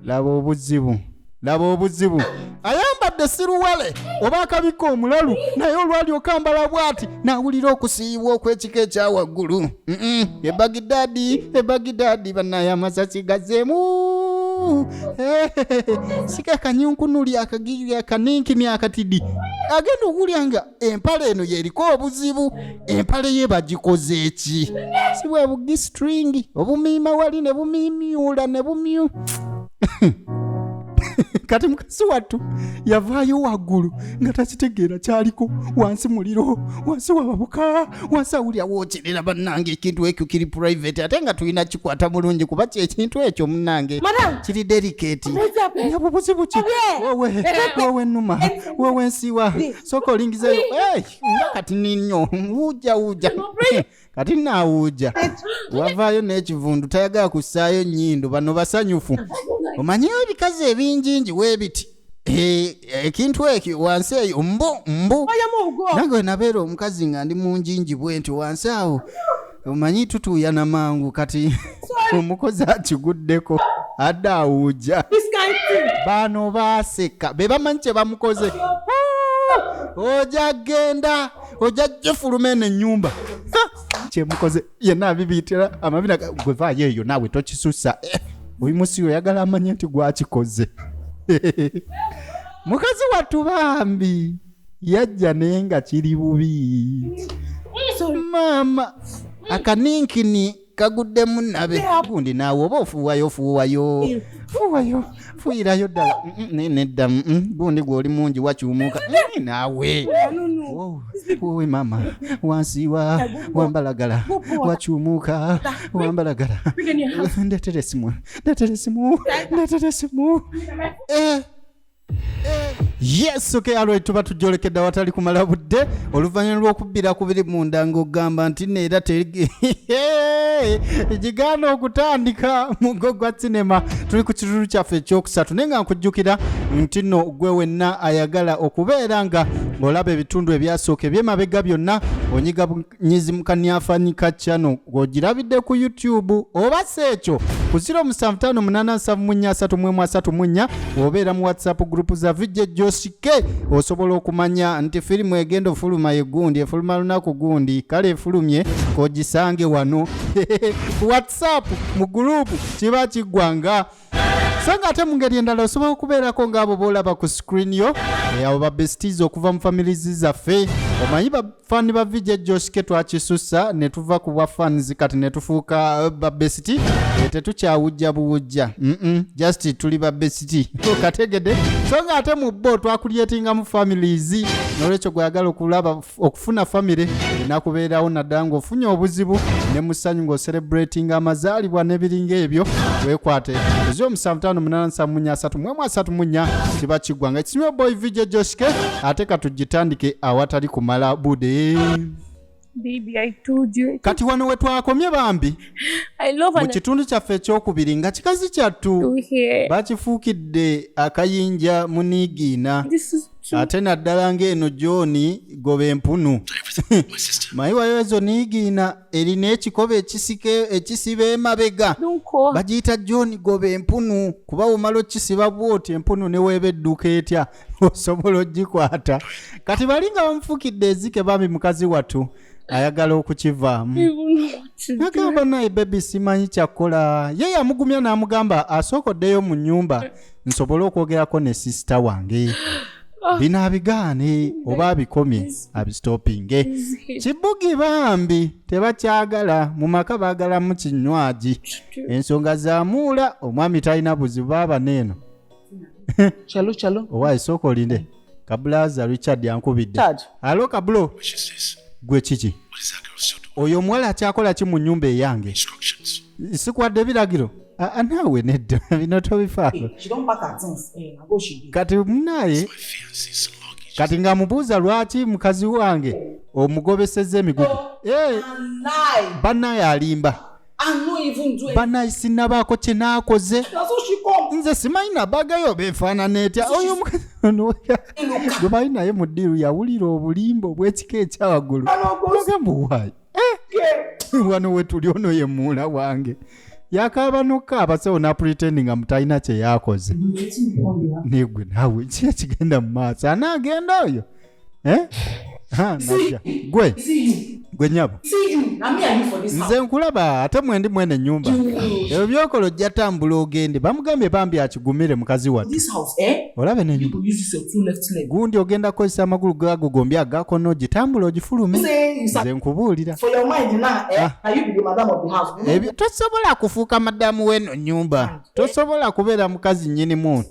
laba obuzibu laba obuzibu ayambadde siruwale oba akabika omulalu naye olwali okambala bwati nawulira okusiibwa okwekika ekyawaggulu ebagidadi ebagidadi banaye amasasi gazeemu sikakanyunkunuli akagiri akaninkini akatidi agenda okuwulya nga empale eno yeriko obuzibu empale ye bagikoze eki si bwe bugistringi obumiima wali ne bumimyula ne bumyu kati mukasi wattu yavaayo waggulu nga takitegeera kyaliko wansi muliro wansi wababuka wansi awulira wokyerera bannange ekintu ekyo kiri private ate nga tulina kikwata bulungi kuba kyekintu ekyo munnange kiri delicate nabubuzibu ki wowe wowe numa wewe nsiwa soko lingizeyo hey, nga kati ninyo wuja wuja kati nawuja wavaayo n'ekivundu tayagala kussaayo nnyindo bano basanyufu omanyiyo ebikazi ebinjinji webiti Eh, ekintu ekyo wansi eyo mbu mbu oyo mugo nange wenabeera omukazi nga ndi munjinji bwenti wansi awo omanyi tutuuyana mangu kati omukozi akiguddeko adde awuuja baano baaseka be bamanyi kye bamukoze oja genda oja jefuluma eno ennyumba kyemukoze yenna abibiyitira amabina gwe vaayo eyo naawe tokisusa eh, oyimusi oyagala amanye nti gwakikoze mukazi wattu bambi yajja naye nga kiri bubi maama akaninkini kaguddemu nabe gundi naawe oba ofuuwayo ofuuwayo fuuwayo fuuyirayo ddala Mm, mm, naye nedda mm, mm, gundi gw'oli mungi wakyumuka Mm, naawe Wow, wowe maama wansiiwa wambalagala wakyumuka wambalagala ndeetera esimu ndeetera esimu ndeetera esimu Eh, yes okay alright tuba tujjolekedde awatali kumala budde oluvannyuma lw'okubbira ku biri munda ng'ogamba nti neera gigaana okutandika mugo gwa sinema tuli ku kitulu kyaffe ekyokusatu naye nga nkujjukira nti no gwe wenna ayagala okubeera nga ng'olaba ebitundu ebyasooka ebyemabega byonna onyiga nyizi mukanyafanyi ka channel ng'ogirabidde ku youtube oba si ekyo ku 07587334 obeera mu whatsapp group za vijja josike osobola okumanya nti firimu egenda ofuluma yegundi efuluma lunaku gundi kale efulumye kogisange wano whatsapp mu gurupu kiba kiggwanga so nga ate mu ngeri endala osobola okubeerako ng'abo boolaba ku screen yo eh, abo babesties okuva mu families zaffe omanyi bafani ba vj joske twakisussa ne tuva ku bwa fans kati ne tufuuka eh, babesiti eh, tetukyawujja buwujja just tuli babesiti kategede so nga ate mu bo twakulyetingamu families nolwekyo gweyagala okulaba okufuna famire erina kubeerawo naddala ng'ofunye obuzibu ne mu ssanyu ng'oserebratinga amazaalibwa n'ebiringa ebyo weekwate ozi omusanvu taano munaana nsanvu munya asatu mwemu asatu munya kiba kiggwa nga kisimye boy vj joshke ate katugitandike awatali kumala bude Baby, I told you. kati wano we twakomye bambi I love mu and kitundu kyaffe ekyokubiri nga kikazi kyattu to hear. bakifuukidde akayinja muniigiina This is ate naddala ng'eno jooni goba empunu mayi wayo ezo niigiina erina ekikoba ekisiba emabega bagiyita jooni goba empunu kuba womala okisiba bwoti empunu neweeba edduka etya osobola ogikwata kati bali nga bamufukidde ezike bambi mukazi wattu ayagala okukivaamu nagamba naye bebi simanyi kyakukola ye yamugumya n'amugamba asooka oddeyo mu nyumba nsobole okwogerako ne sisita wange ah. bino abigaane oba abikomye abistopinge kibugi bambi tebakyagala mu maka baagalamu kinywagi ensonga zamuula omwami talina buzibu baaba neeno kyalo kyalo owaye sooka olinde mm. kabulaza richard yankubidde alo kabulo gwe kiki oyo omuwala akyakola ki mu nyumba eyange sikwadde ebiragiro ah, ah, naawe nedda bino tobifaako eh, eh, kati munaye kati nga mubuuza lwaki mukazi wange omugobeseza emigugu eh, banaye alimba banayi sinabaako kye naakoze nze simanyi nabagayo befaanana etya oyo gwe bali naye mu ddiiru yawulira obulimba obw'ekika ekyawaggulu ogamba owaayi eh! wano wetuli ono ye muula wange yakaaba nokukaaba sewo napuriteni nga mutalina kye yakoze negwe naawe ki ekigenda mu maaso anaagenda oyo eh? ha, naja gwe gwe nyabo nze nkulaba ate mwendi mwene nyumba ebyo byokola ojja tambula ogende bamugambye bambi akigumire mukazi wattu eh? olabe nenyumba gundi ogenda kukozesa amagulu gago gombi agakono ogitambula ogifulume nze nkubuulira eh? ah. tosobola kufuuka madamu weno nyumba tosobola kubeera mukazi nyini muntu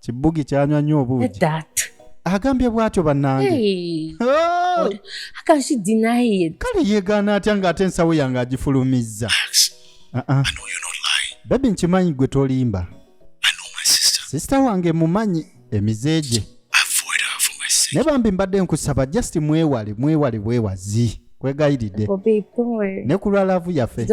kibugi kyanywa nnyo obuugi agambye bwatyo bannange oh! kale yeegaana atya ng'ate ensawo yange agifulumizza uh-uh. bebi nkimanyi gwe tolimba sisita wange mumanyi emize gye ne bambi mbadde nkusaba just mwewale mwewale bwewazi kwegayiride ne ku lwa laavu yaffe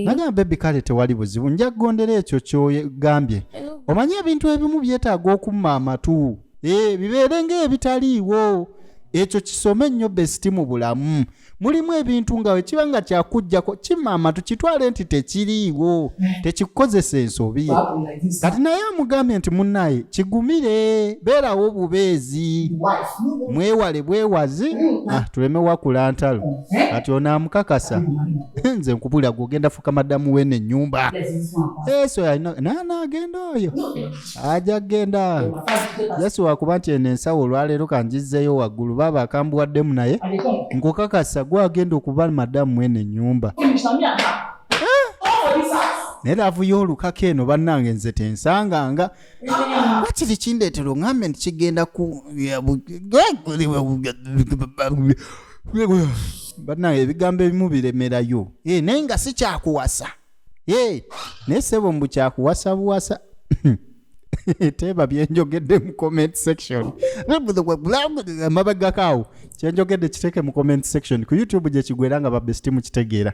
nagamba bebi kale tewali buzibu nja kugondera ekyo kyogambye omanyi ebintu ebimu byetaaga okumma amatu eh, bibeere ngaebitaliiwo ekyo kisome nnyo besiti mu bulamu mulimu ebintu nga wekiba nga kyakujjako kimma amatu kitwale nti tekiriiwo tekikukozesa ensobi kati naye amugambye nti munnaye kigumire beerawo bubeezi mwewale bwewazi ah, tuleme wakula ntalo kati onaamukakasa nze nkubulira gwe ogenda fuka madamu wene enyumba eso eh, nana agenda oyo aja genda yesi wakuba nti eno ensawo olwaleero kanjizzeeyo waggulu baaba akambuwaddemu naye nkukakasa gwe agenda okuba madamu wene enyumba naye lavu y'olukaka eno bannange nze tensanganga wakiri kindeetera oŋambe nti kigenda ku banaye ebigambo ebimu biremerayo eh, naye nga si kyakuwasa eh, naye sebo mbu kyakuwasa buwasa teeba byenjogedde mu comment section amabagakaawo kyenjogedde kiteeke mu comment section ku youtube gyekigwera nga babesiti mukitegeera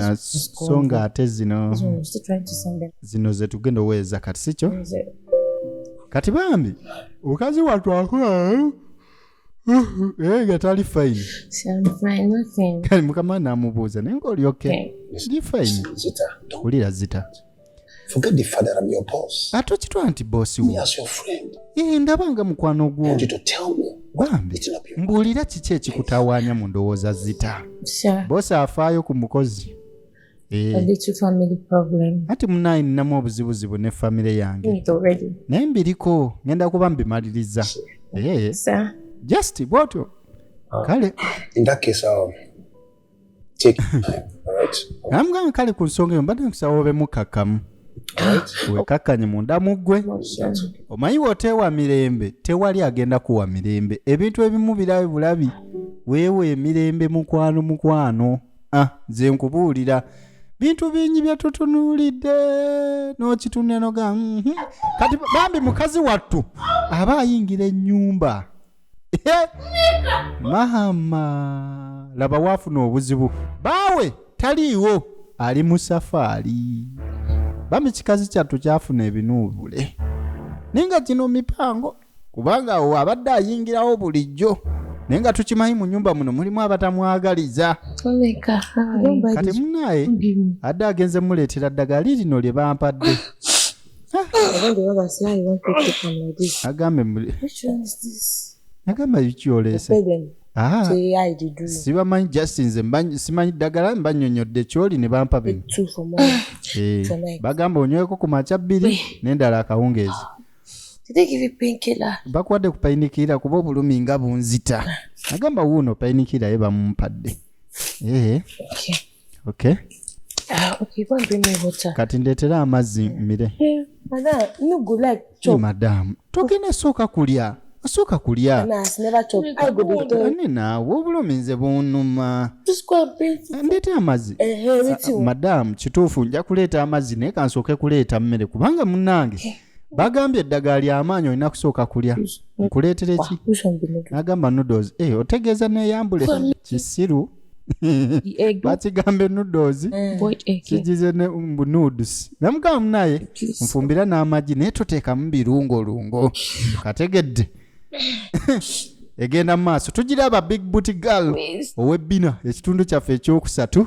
Ah, so nga ate zino zino zetugenda oweeza kati sikyo kati bambi omukazi watwakola eh, nga tali fayini kati mukama namubuuza naye ngaoli oke ndi fayini wulira zita Forget the father, I'm your boss. Ate okitwala nti boss wo. Yes, your friend. Eh, ndaba nga mukwano gwo. And you to tell me. Bambi, mbuulira kiki ekikutawaanya mu ndowooza zita. Boss afaayo ku mukozi. Eh. Ati munaye ninamu obuzibuzibu ne famire yange. Naye mbiriko, ngenda kuba mbimaliriza. Eh. Just bwotyo. Ah. Kale. In that case, um, amugamba kale ku nsonga eyo mbadde nkusaba obe mukakamu wekakkanye munda mu ggwe omanyi woteewa mirembe tewali agenda kuwa mirembe ebintu ebimu birabe bulabi weewa emirembe mukwano mukwano ah, nze nkubuulira bintu bingi byetutunuulidde n'okitunenoga mhm. kati bambi mukazi wattu aba ayingira ennyumba mahama laba waafuna obuzibu baawe taliiwo ali mu safaali bami kikazi kyattu kyafuna ebinuubule naye nga gino mipango kubanga awo abadde ayingirawo bulijjo naye nga tukimanyi mu nyumba muno mulimu abatamwagaliza toleka kati munaaye adde agenze muleetera ddagala lirino lye bampadde agambe agamba kyoleese ah. sibamanyi just nze simanyi ddagala mbanyonyodde kyoli ne bampa bino eh, bagamba onyweko ku makya bbiri nendala akawungeezi bakuwadde ku painikira kuba obulumi nga bunzita agamba wuuno painikira ye bamumpadde eh. okay ah, okay go and bring me water kati ndetera amazzi mire hey, eh, madam no go like chop hey, madam togenda soka kulya osooka kulya ani naawe obulumi nze bunuma ndeeta amazzi madamu kituufu nja kuleeta amazzi naye kansooke kuleeta mmere kubanga munange eh. bagambye eddagala lyamaanyi olina kusooka kulya nkuleetereki nagamba noodles eh, otegeeza neyambule kisiru bakigambe nudozi eh. kigize mbu nuds namugamba munaye nfumbira n'amagi naye toteekamu birungolungo kategedde egenda mu maaso tugira aba big booty girl ow'ebbina ekitundu kyaffe ekyokusatu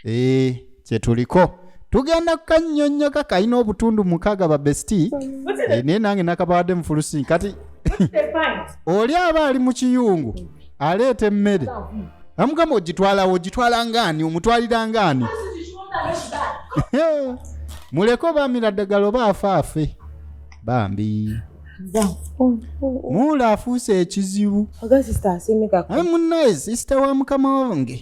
ee eh. kyetuliko tugenda kukanyonyoka kalina obutundu mukaaga ba besti eh, naye nange nakabawadde mufulusi kati oli aba ali mu kiyungu aleeta emmere amugamba ogitwalawo ogitwala ngaani omutwalira ngaani muleke obamira ddagala oba afaafe bambi muula afuuse ekizibu munnaye sisita wa mukama wange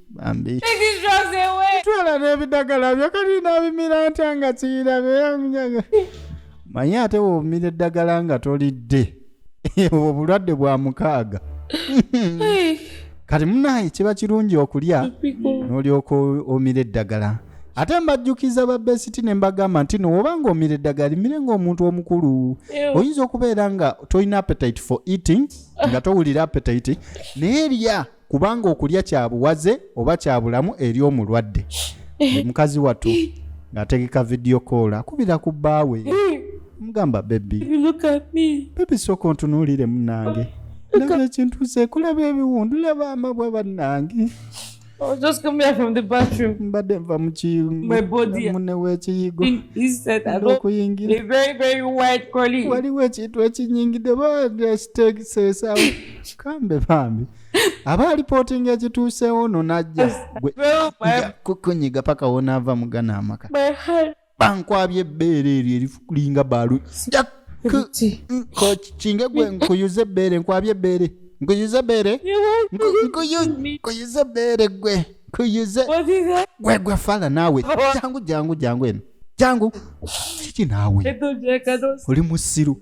bambi twala n'ebidagala byo kati nabimira ntya nga kiyirabe manye ate wobumira eddagala nga tolidde obwo bulwadde bwa mukaaga kati munaye kiba kirungi okulya n'olyoka omira eddagala ate mbajjukiza babesiti ne mbagamba nti no oba ng'omira eddagala limire ng'omuntu omukulu oyinza okubeera nga tolina appetite for eating nga towulira appetite naye lya kubanga okulya kya buwaze oba kya bulamu eri omulwadde mukazi wattu ng'ategeka vidiyo koola kubira ku bbaawe mugamba bebi bebi sooka ontunuulire munange laba ekintu sekulaba ebiwundu laba amabwa bannange Oh, just come here from the bathroom. Mbadde nva mu kiyigo. Mune w'ekiyigo. He said that. Okuyingira. A very very white collie. Waliwo ekintu ekinyingidde ba ndasiteekiseesaawo. kikambe bambi aba alipotinga ekituuseewo no najja kukunyiga paka wonaava mugana amaka bankwabya ebbeere eryo erifulinga baalu kinge gwe nkuyuza ebbeere nkwabya ebbeere nkuyuza ebbeere nkuyuza ebbeere gwe nkuyuze gwe gwe fala naawe jangu jangu jangu eno jangu kiki naawe oli musiru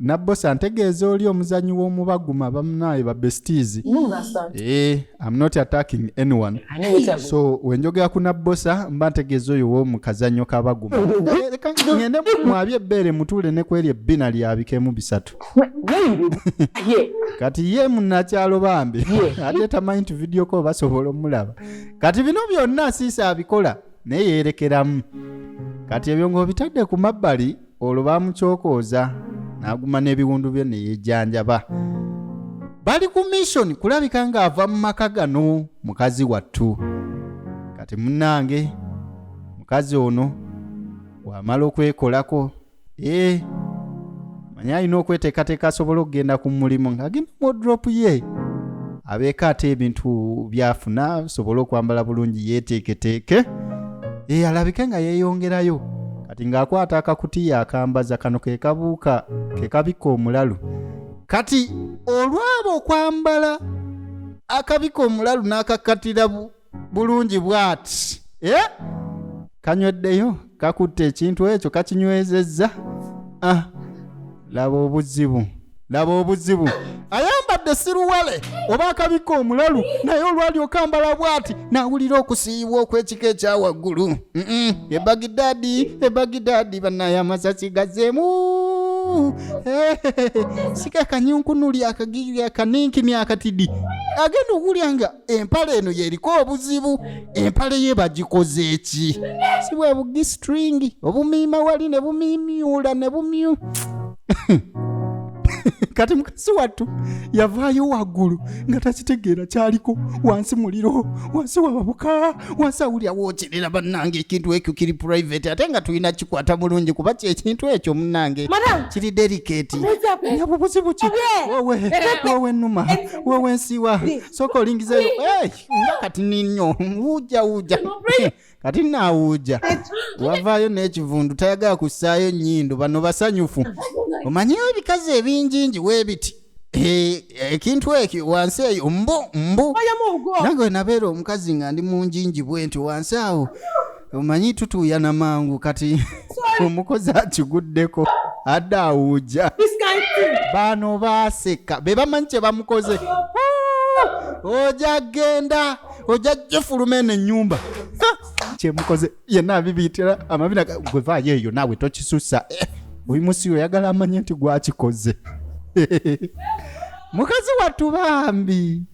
nabbosi antegeeza oli omuzanyi w'omubaguma bamunaye ba besties eh, am not attacking anyone so wenjogera ku nabbosa mba ntegeeza oyo womu kazanyo kabaguma eh, leka ngende mwabye ebbeere mutuule ne kweri ebbina lyabikemu bisatu kati ye munakyalo bambi ate tamanyi nti vidiyo ko basobola omulaba kati bino byonna siisa abikola naye yerekeramu kati ebyo ng'obitadde ku mabbali olwo bamukyokooza n'aguma n'ebiwundu bye ne yejjanjaba bali ku mission kulabika ng'ava mu maka gano mukazi wattu kati munnange mukazi ono wamala okwekolako ee eh, manya alina okweteekateeka asobole okugenda ku mulimu ng'agenda mu odropu ye abeeko ate ebintu byafuna asobole okwambala bulungi yeeteeketeeke ee eh, alabike nga yeeyongerayo kati ng'akwata akakutiya akambaza kano ke kabuuka ke kabikka omulalu kati olwaba okwambala akabika omulalu n'akakatira bulungi bwati eh? kanyweddeyo kakutte ekintu ekyo kakinywezezza ah. laba obuzibu laba obuzibu ayambadde siruwale oba akabikka omulalu naye olwali okambala bwati nawulira okusiiyibwa okw'ekika ekya waggulu ebagidadi ebagidadi banaye amasasi gazeemu sikakanyunkunuli akagiri akaninkini akatidi agenda okuwulya nga empale eno yeriko obuzibu empale ye bagikoze eki si bwe bugistringi obumiima wali ne bumimyula ne bumyu kati mukazi wattu yavaayo waggulu nga takitegeera kyaliko wansi muliro wansi wababuka wansi awulira wookyerera bannange ekintu ekyo kiri private ate nga tulina kikwata bulungi kuba kyekintu ekyo munnange kiri delicate nyabubuzibu ki wowe wowe numa wewe nsiwa soko lingizeyo hey, nga kati ninyo wuja wuja kati nawuja wavaayo n'ekivundu tayagala kussaayo nnyindo bano basanyufu omanyeyo ebikazi ebinjinji webiti Eh, ekintu ekyo wansi eyo mbu mbu nange wenabeera omukazi nga ndi munjinji bwenti wansi awo omanyi tutuuyana mangu kati omukozi akiguddeko adde awuuja baano baaseka be bamanyi kye bamukoze oja genda oja jefuluma eno ennyumba kyemukoze yenna abibiyitira amabina gwe vaayo eyo naawe tokisusa eh, oyo musi oyagala amanye nti gwakikoze mukazi wattu bambi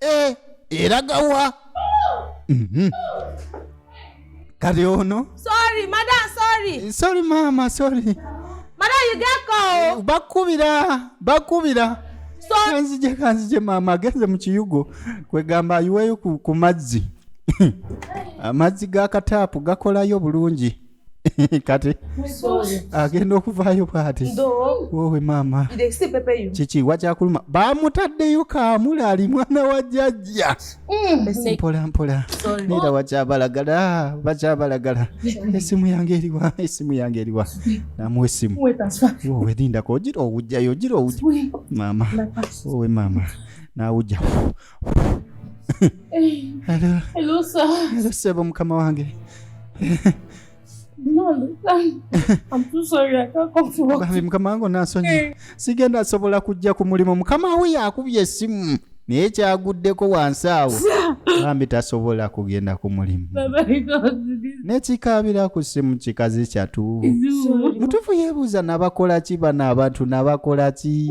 Eh, eraga wa Mhm. kati ono Sorry, madam, sorry. sorry maama sorry Madam, you get call. bakubira bakubira Sorry. kanzije kanzije maama agenze mu kiyugo kwegamba ayiweyo ku, ku mazzi amazzi ga kataapu gakolayo bulungi kati agenda okuvaayo bwati wowe maama kiki wakyakuluma bamutaddeyo kaamula ali mwana wa jajja mm. mpola mpola neera wakyabalagala bakyabalagala esimu yange eriwa esimu yange eriwa namu esimu wowe lindako ogira owujjayo ogira owujja maama wowe maama nawujja sebo mukama wange bambi mukama wange onasonyi eh. sigenda sobola kujja ku mulimu mukama we yakubye esimu naye kyaguddeko wansi awo bambi tasobola kugenda ku mulimu nekikaabira ku simu kikazi kyatu mutufu yebuuza nabakola ki bano abantu nabakola ki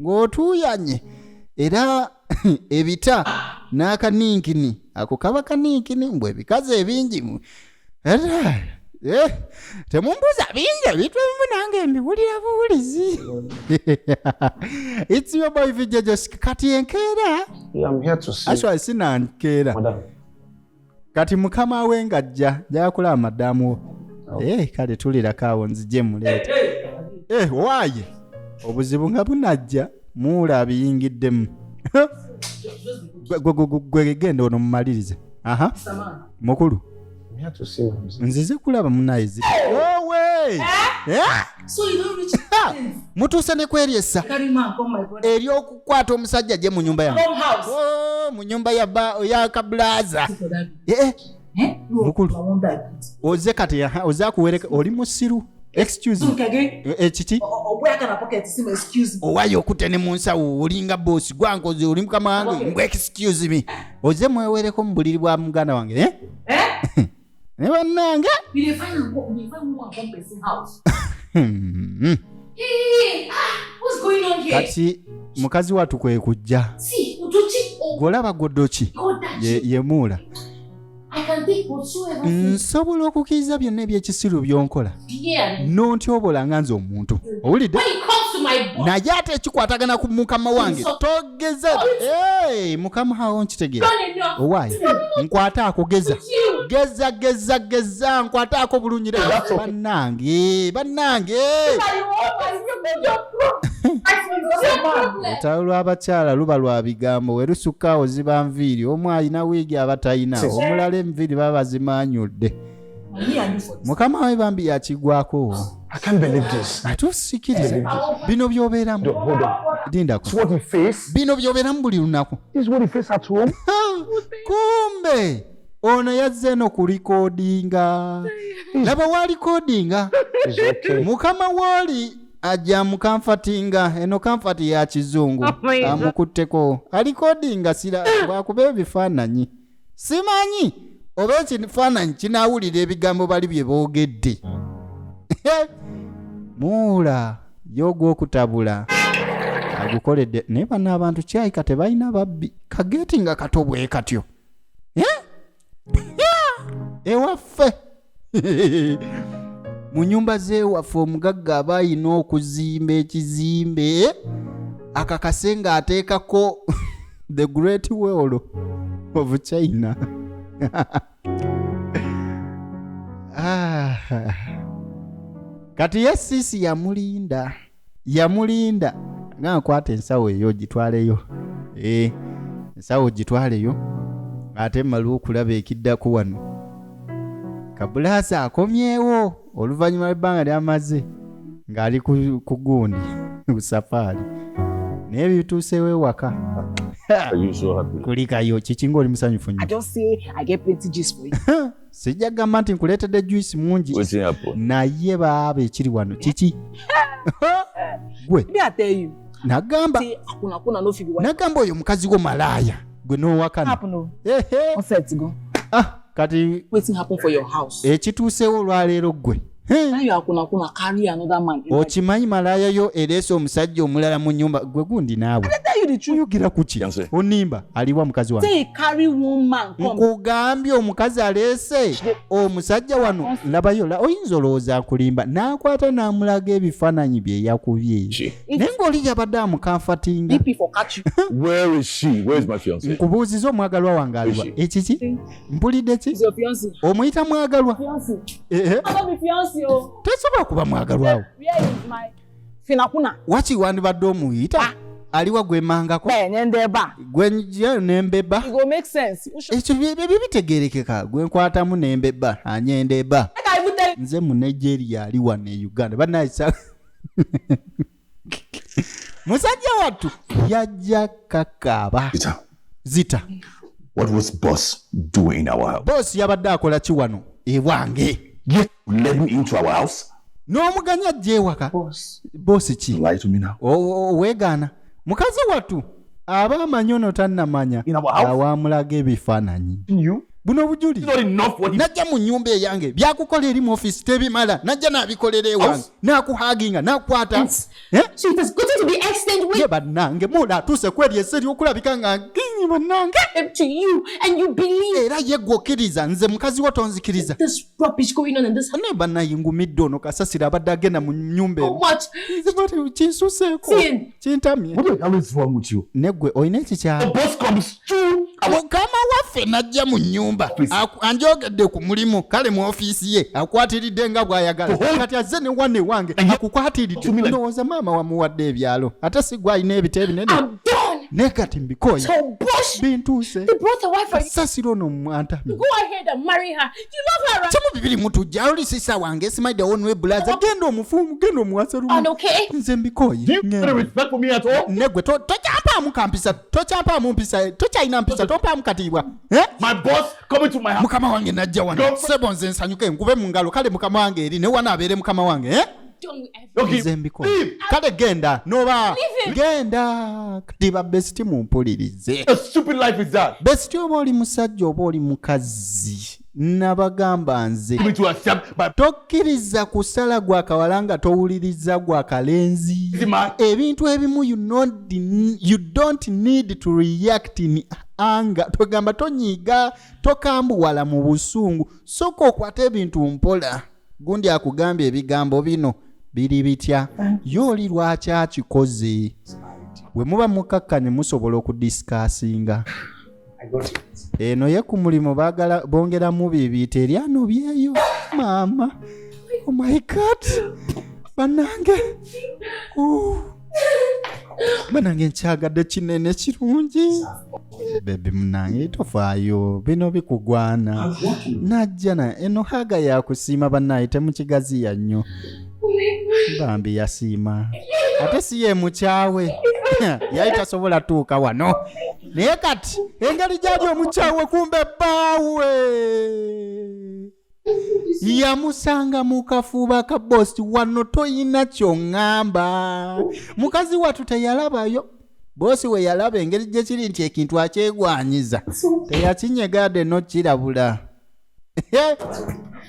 ng'otuuyanye era ebita n'akaninkini ako kaba kaninkini mbwe ebikazi ebingi Eh, temumbuza bingi ebintu ebimu nange mbiwulira buwulizi its your boy vijajos kati enkeera aswa sinankeera kati mukama we nga ajja jakulaba madamu wo oh. eh, kale tulirako awo nzije muleeta eh, waaye obuzibu nga bunajja muula abiyingiddemu gwegenda ono mumalirize aha mukulu nzize kulaba munaye zi owe eh? mutuuse ne kweryesa ery'okukwata omusajja gye mu nyumba yange oh, mu nyumba ya kabulaza eh, eh. Eh? mukulu oze kati oze akuwereka oli musiru ekiki owayo okute ne mu nsawo olinga bosi gwankoze oli mukama wange mbwe excuse me oze mwewereko mu buliri bwa muganda wange naye bannange hmm. ah, kati mukazi watu kwe kujja gwolaba gwodoki yemuula nsobola okukkiriza byonna ebyekisiru byonkola nontyobola nga nze omuntu owulidde naye ate ekikwatagana ku mukama wange geza hey, mukama hawo nkitegera owaye nkwata akugeza geza geza geza nkwata ako bulungi banange banange olutalo lw'abakyala luba lwa bigambo we lusukka oziba nviiri omu alina wiigi aba talina omulala enviiri baba bazimaanyudde mukama we bambi yakigwako atusikiriza bino byobeeramu bino byobeeramu buli lunaku kumbe ono yazze no ku likodinga laba wa likodinga mukama wooli ajja mukamfatinga eno kamfati ya kizungu oh amukutteko alikodinga sira bwakuba ebifaananyi simanyi oba ekifaananyi kinaawulira ebigambo bali bye boogedde muula y'ogwokutabula agukoledde naye bano abantu kyayika tebalina babbi kageeti nga kato bwe katyo ewaffe eh? eh, mu nyumba zewaffe omugagga aba ayina okuzimba ekizimbe akakase nga ateekako the great world of china ah. kati ye siisi yamulinda yamulinda nga nkwata ensawo eyo gitwaleyo eh, ensawo gitwaleyo ate mmalwa okulaba ekiddako wano kabulaasi akomyewo oluvannyuma lw'ebbanga lyamaze ng'ali ku gundi ku safaari naye bituusewo ewaka kulikayo kiki ngaoli musanyufu nyo sijja gamba nti nkuleetedde juice mungi naye baaba ekiri wano kiki gwe nagamba nagamba oyo mukazi wo malaaya gwe nowakana ah, kati ekituusewo olwaleero gwe okimanyi malaaya yo ereese omusajja omulala mu nyumba gwe gundi naawe oyogera kuki onimba aliwa mukazi wa nkugambye omukazi aleese omusajja wano labayo oyinza olowooza akulimba n'akwata n'amulaga ebifaananyi bye yakubye naye ng'oli yabadde amukanfatinga nkubuuziza omwagalwa wange aliwa ekiki mpulidde ki omuyita mwagalwa eh, eh. tesobola kuba mwagalwawo waki wandibadde omuyita ah. aliwa gwemangako eh, nembeba ekyo byebyo bitegerekeka gwenkwatamu nembeba anyendeba nze mu nigeria ali wano e uganda banaisa musajja wattu yajja kakaaba It's a, zita what was boss doing in our house? boosi yabadde akola ki wano ewange You let me into our house? n'omuganya ajja ewaka Boss. boosi ki Lie to me now. O- o- weegaana mukazi wattu aba amanyi ono tannamanya In our house? awamulaga ebifaananyi You? buno obujulizi Not enough what he najja mu nnyumba eyange byakukola eri mu ofisi tebimala najja n'abikolera ewange House? nakuhaginga nakwata eh? ye bannange muna atuuse kweri ese lyokulabika nga nginyi bannange era ye gwe okkiriza nze mukazi wo tonzikiriza naye bannayingumidde ono kasasira abadde agenda mu nyumba eno oh, kinsuseeko kintamye neggwe olina ekikyamukama waffe najja mu nyumba anjogedde ku mulimu kale mu ofiisi ye akwatiridde nga bw'ayagala kati azze ne wane wange akukwatiridde ndowooza maama wamuwadde ebyalo ate si gwe alina ebita ebinene naye kati mbikoye bintuuse sasiro ono mwantamye kimu bibiri mutujja oli sisa wange simaide onwe bulaza genda omufumu genda omuwasa lumu nze mbikoye negwe tokyampaamu kampisa tokyampaamu mpisa tokyalina mpisa tompaamu katiibwa eh? mukama wange najja wano sebo nze nsanyuke nkube mu ngalo kale mukama wange eri newana abeere mukama wange eh? kale genda noba genda kati babesiti mumpulirize besiti oba oli musajja oba oli mukazi nabagamba nze tokkiriza kusala gwa kawala nga towuliriza gwa kalenzi ebintu ebimu you don't need to react in anga togamba tonyiiga tokambuwala mu busungu soka okwata ebintu mpola gundi akugambye ebigambo bino biri bitya ye oli lwaki akikoze bwe muba mukkakkanye musobola okudisikasinga eno ye ku mulimu bagala bongeramu bibi teri anobyeyo maama omayikat oh banange banange nkyagadde kinene kirungi bebi munange tofaayo bino bikugwana najja na eno haga yakusiima bannaye temukigaziya nnyo bambi yasiima ate si ye mukyawe yali tasobola tuuka wano naye kati engeri gyali omukyawe kumbe bbaawe yamusanga mu kafuuba ka bosi wano toyina kyoŋŋamba mukazi wattu teyalabayo boosi we yalaba engeri gye kiri nti ekintu akyegwanyiza teyakinyegade nokirabula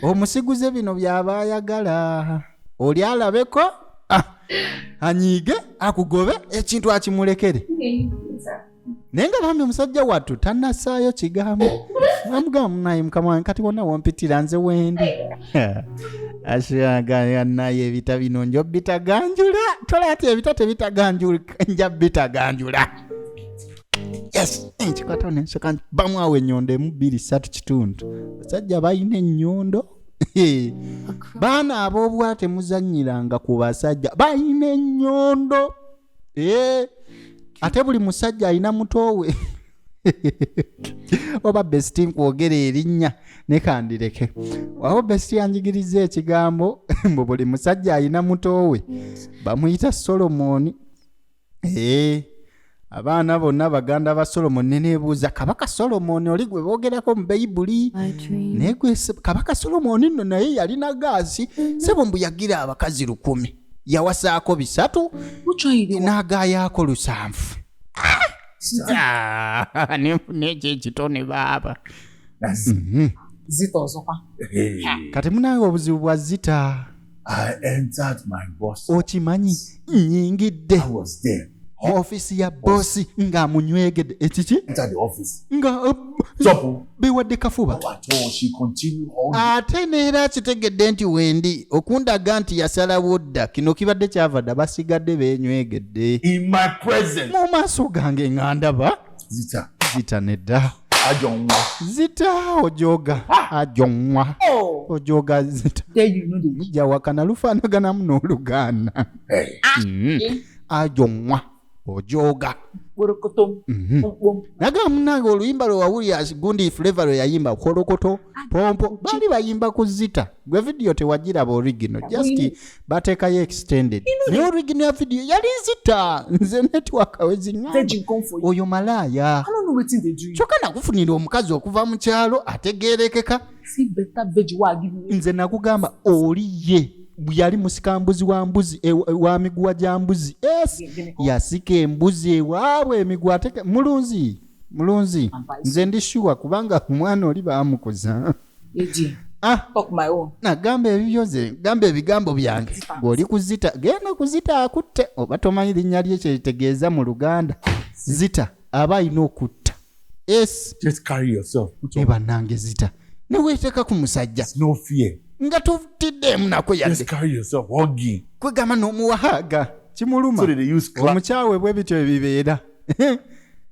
omusiguze bino byaba ayagala oli alabeko ah, anyiige akugobe ekintu akimulekere naye nga bambi omusajja wattu tanasaayo kigambo amugamba munaye mukama wange kati wonna wompitira nze wendi ashaganaye ebita bino nja obitaganjula tola ati ebita tebitaganjula nja bitaganjula yes nkikwatawo nensoka nti bamu awo enyondo emu bbiri satu kitundu basajja balina enyondo baana ab'obwa temuzanyiranga ku basajja balina enyondo Eh, ate buli musajja alina mutowe oba besiti nkwogera erinnya nekandireke waba besiti yanjigiriza ekigambo mbu buli musajja alina mutowe bamuyita solomoni ee abaana bonna baganda ba solomoni nenebuuza kabaka solomoni oli gwe boogerako mu bayibuli naye gwe se- kabaka solomoni nno naye yalina gaasi sebo mbu yagira abakazi lukumi yawasaako bisatu n'agaayaako lusanvu nenfuna ekyo ekitone baaba mhm. zita osoka kati munange obuzibu bwa zita okimanyi nyingidde mu ofiisi ya boosi ng'amunywegedde ekiki nga uh, bewadde kafuba ate neera akitegedde nti wendi okundaga nti yasalawo dda kino kibadde kyava dda basigadde beenywegedde mu maaso gange nga ndaba zita nedda ajonwa zita ojoga ajonwa oh. ojoga zita mujja wakana lufaanaganamu n'olugaana hey. Eh. mm. Ah, eh. ajo nwa ojooga mhm. naga munange oluyimba lwe wawulira gundi fleva lwe yayimba kolokoto pompo baali bayimba ku zita gwe vidiyo tewagiraba origino just bateekayo extended naye origino ya vidiyo yali zita nze netiwaka wezinyamba oyo malaaya kyokka nakufunira omukazi okuva mu kyalo ategeerekeka nze nakugamba oli ye yali musikambuzi wa mbuzi e, e, wa miguwa gya mbuzi es yasika embuzi ewaabwe emiguwa ateke mulunzi mulunzi nze ndi shuwa kubanga omwana oli baamukuza ah, nagamba ebibyo nze gamba ebigambo byange ng'oli kuzita genda kuzita akutte oba tomanyi linnya lye kyekitegeeza mu luganda zita aba alina okutta banange zita neweteeka ku musajja nga totiddeemu nako yadekwegamba n'omuwahaaga kimuluma omukyawe bwe bityo ebibeera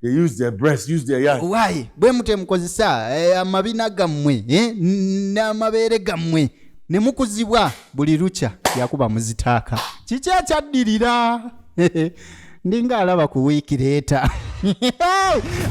they use their breast use their yard why bwe mutemukozesa eh, amabina gammwe eh, n'amabeere gammwe ne mukuzibwa buli lukya yakuba muzitaaka kiki ekyaddirira ndinga alaba ku wiiki leeta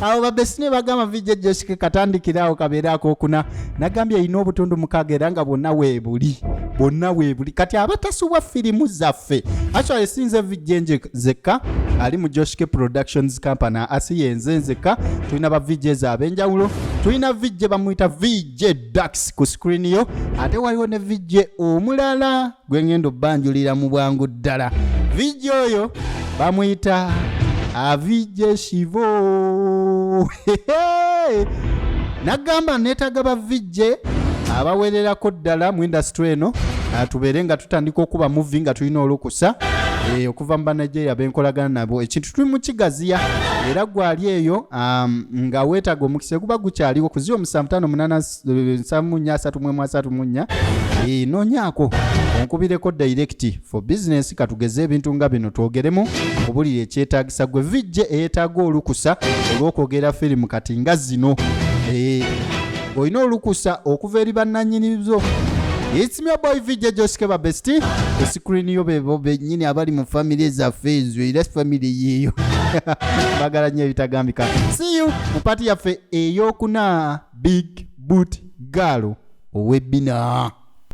awo babesine bagamba vijja josike katandikiraawo kabeera akokuna nagambye erina obutundu mukaaga era nga bwonna weebuli bwonna weebuli kati abatasubwa firimu zaffe actually esinze vijja enje zekka ali mu josike productions company asi yenze nzekka tulina ba vijja ezo ab'enjawulo tulina vijja bamuyita vijja dax ku screen yo ate waliwo ne vijja omulala gwe ngenda obanjulira mu bwangu ddala vijja oyo bamuyita avijje shivo nagamba neetaga bavijje abawererako ddala mu indasitry eno tubeere nga tutandika okuba muvi nga tulina olukusa eh, okuva mu banigeria benkolagana nabo ekintu tuli mukigaziya era gwali eyo um, nga weetaga omukisa guba gukyaliwo kuziwa omusanvu tano munana nsamunya asatu mwemu asatu munya nonyako onkubireko direct for business katugeze ebintu nga bino twogeremu obulira ekyetagisa gwe vijje eyetaaga olukusa olwokwogera firimu kati nga zino olina olukusa okuva eri bannanyini zo It's me boy VJ Josh Keba Bestie. Ku screen yo bebo benyini abali mu family zaffe ezo era family yiyo. Bagala nyo ebitagambika. See you mu party yaffe. eyokuna big boot gaalo owebbina